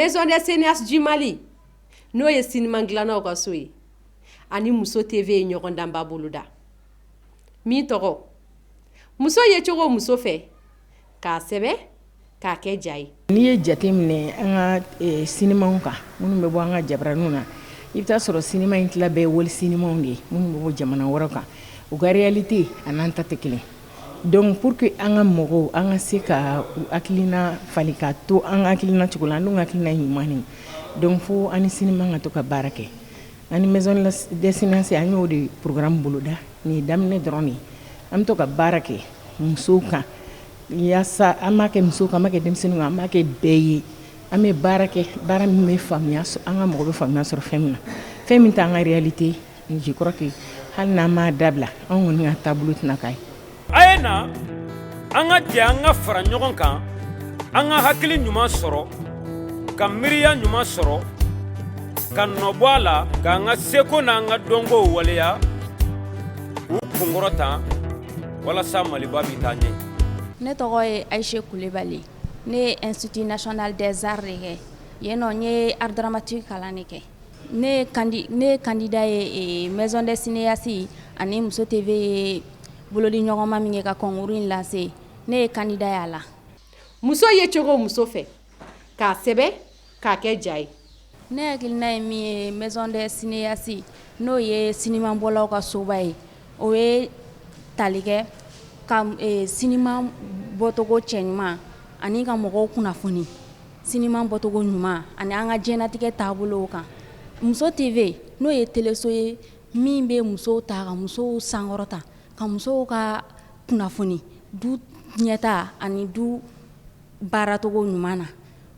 maison des cinéastes du Mali n'o ye siniman dilannaw ka so ye ani muso TV ye ɲɔgɔndanba boloda min tɔgɔ muso ye cogo muso fɛ k'a sɛbɛn k'a kɛ ja ye n'i ye jate minɛ an ka sinimaw kan minnu bɛ bɔ an ka jabaraninw na i bɛ t'a sɔrɔ sinima in tila bɛ wali sinimaw de ye minnu bɛ bɔ jamana wɛrɛ kan u ka réalité ani an ta tɛ kelen donc pour que an ka mɔgɔw an ka se ka u hakilina falen ka to an ka hakilina cogo la n' ka hakilina ɲuman ye donc fɔ an ni siniman ka to ka baara kɛ Ani maison des cinéastes an y'o de programme boloda nin ye daminɛ dɔrɔn de an bɛ to ka baara kɛ musow kan walasa an b'a kɛ muso kan an b'a kɛ denmisɛnninw kan an b'a kɛ bɛɛ ye an bɛ baara kɛ baara min bɛ faamuya sɔrɔ an ka mɔgɔ bɛ faamuya sɔrɔ fɛn min na fɛn min t'an ka réalité je crois que hali n'an m'a dabila an kɔni ka taabolo tɛna k'a ye A ye na an ka jɛ an ka fara ɲɔgɔn kan an ka hakili ɲuman sɔrɔ ka miiriya ɲuman sɔrɔ ka nɔbɔ a la k' an ka seko n'an ka dɔnko waleya u kunkɔrɔta walasa maliba bɛ taa ɲɛ ne tɔgɔ ye ayise kulibali ne ye institut national des arts de kɛ yen nɔ n ye art dramatique kalan de kɛ Ne ye kandida ye maison des cinéastes ani muso TV ye bolodiɲɔgɔnma min kɛ ka concours in lase ne ye kandida y'a la muso ye cogo muso fɛ k'a sɛbɛn k'a kɛ ja ye ne hakilina ye min ye maison des cinéastes n'o ye sinimabɔlaw ka soba ye o ye tali kɛ ka sinima bɔcogo cɛ ɲuman ani ka mɔgɔw kunnafoni sinima bɔcogo ɲuman ani an ka diɲɛnatigɛ taabolo kan muso TV n'o ye teleso ye min bɛ musow ta ka musow sankɔrɔta ka musow ka kunnafoni du ɲɛtaa ani du baaracogo ɲuman na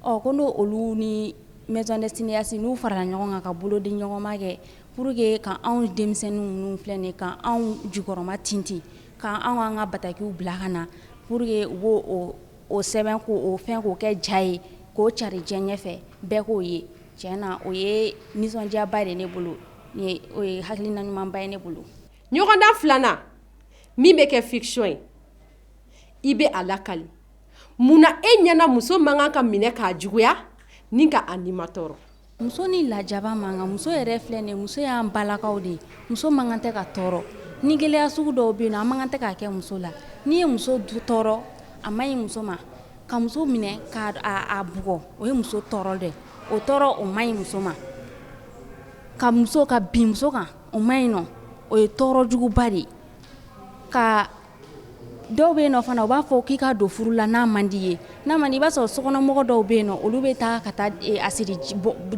ɔ ko n' olu ni maison des cinéastes n'u farala ɲɔgɔn kan ka bolodiɲɔgɔnma kɛ pour que ka anw denmisɛnnin ninnu filɛ de ka anw jukɔrɔmatintin anw an ka batakiw bila ka na pour que wo o o sɛbɛn ko o fɛn k'o kɛ ja ye k'o cari diɲɛ ɲɛfɛ bɛɛ k'o ye tiɲɛ na o ye nisɔndiyaba de ne bolo o ye hakilina ɲumanba ye ne bolo ɲɔgɔndan filanan min bɛ kɛ fiction ye i bɛ a lakali munna e ɲɛna muso man kan ka minɛ k'a juguya ni ka a nimatɔɔrɔ Muso ni lajaba man kan muso yɛrɛ filɛ nin muso y'an balakaw de ye muso man kan tɛ ka tɔɔrɔ ni gɛlɛya sugu dɔw bɛ yen nɔ an man kan tɛ k'a kɛ muso la n'i ye muso tɔɔrɔ a man ɲi muso ma ka muso minɛ k'a bugɔ o ye muso tɔɔrɔ dɛ o tɔɔrɔ o man ɲi muso ma ka muso ka bin muso kan o man ɲi nɔ o ye tɔɔrɔ juguba de ye ka dɔw bɛ yen fana u b'a fɔ k'i ka don furu la n'a man di i ye n'a man di i b'a sɔrɔ sokɔnɔmɔgɔ dɔw bɛ yen olu bɛ taa ka taa asidi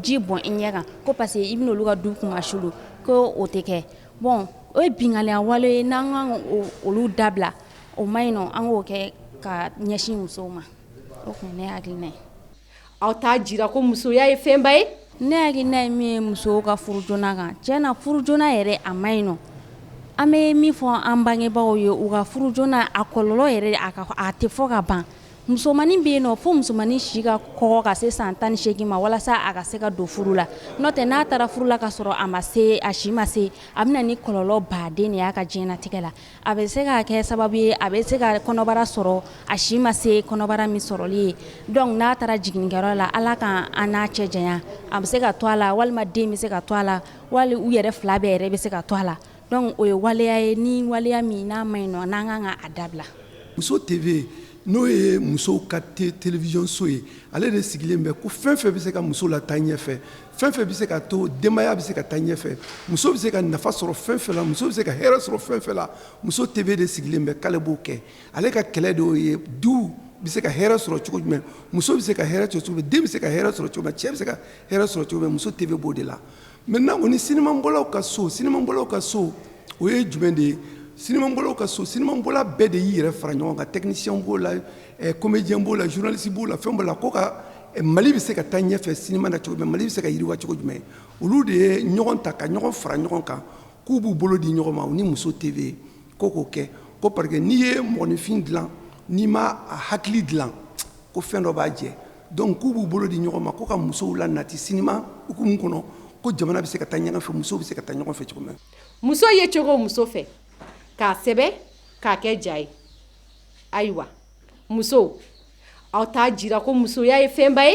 ji bɔn i ɲɛ kan ko parce que i bɛna olu ka du kunmasuli ko o tɛ kɛ bɔn o ye binkanni wale ye n'an ka olu dabila o man ɲi nɔ an k'o kɛ ka ɲɛsin musow ma o tuma ne hakili Aw t'a jira ko musoya ye fɛnba ye ne hakilina ye min ye musow ka furu joona kan tiɲɛ na furu joona yɛrɛ a man ɲi nɔ an bɛ min fɔ an bangebagaw ye u ka furu joona a kɔlɔlɔ yɛrɛ a ka a tɛ fɔ ka ban musomannin bɛ yen nɔ fo musomannin si ka kɔgɔ ka se san tan ni seegin ma walasa a ka se ka don furu la n'o tɛ n'a taara furu la ka sɔrɔ a ma se a si ma se a bɛ na ni kɔlɔlɔba de y'a ka diɲɛnatigɛ la A bɛ se ka kɛ sababu ye a bɛ se ka kɔnɔbara sɔrɔ a si ma se kɔnɔbara min sɔrɔli ye donc n'a taara jiginkɛyɔrɔ la ala ka an n'a cɛ janya a bɛ se ka to a la walima den bɛ se ka to a la wali u yɛrɛ fila bɛɛ yɛrɛ bɛ se ka to a la donc o ye waleya ye ni waleya min n'a man ɲi nɔ n'an ka kan k'a dabila muso TV n'o ye muso ka télévision so ye ale de sigilen bɛ ko fɛn fɛn bɛ se ka muso lataa ɲɛfɛ fɛn fɛn bɛ se ka to denbaya bɛ se ka taa ɲɛfɛ muso bɛ se ka nafa sɔrɔ fɛn fɛn la muso bɛ se ka hɛrɛ sɔrɔ fɛn fɛn la muso TV de sigilen bɛ k'ale b'o kɛ ale ka kɛlɛ de y'o ye du bɛ se ka hɛrɛ sɔrɔ cogo jumɛn muso bɛ se ka hɛrɛ sɔrɔ cogo den bɛ se ka hɛrɛ sɔrɔ cogo cɛ bɛ se ka hɛrɛ sɔrɔ cogo jumɛn muso TV b'o de la maintenant o ni sinimabɔlaw ka so sinimabɔlaw ka so o ye jumɛn de ye sinimabɔlaw ka so sinimabɔla bɛɛ de y'i yɛrɛ fara ɲɔgɔn kan tɛkinisiyɛnw b'o la comédien b'o la journaliste b'o la fɛn b'o la ko ka Mali bɛ se ka taa ɲɛfɛ cinéma na cogo jumɛn Mali bɛ se ka yiriwa cogo jumɛn olu de ye ɲɔgɔn ta ka ɲɔgɔn fara ɲɔgɔn kan k'u b'u bolo di ɲɔgɔn ma u ni muso TV ko k'o kɛ ko parce que n'i ye mɔgɔninfin dilan n'i ma a hakili dilan ko fɛn dɔ b'a jɛ donc k'u b'u bolo di ɲɔgɔn ma ko ka musow la nati cinéma hukumu kɔnɔ ko jamana bɛ se ka taa ɲɛfɛ musow bɛ se ka taa ɲɛfɛ cogo min na muso ye cogo muso fɛ k'a sɛbɛn k'a kɛ ja ye ayiwa muso aw t'a jira ko musoya ye fɛnba ye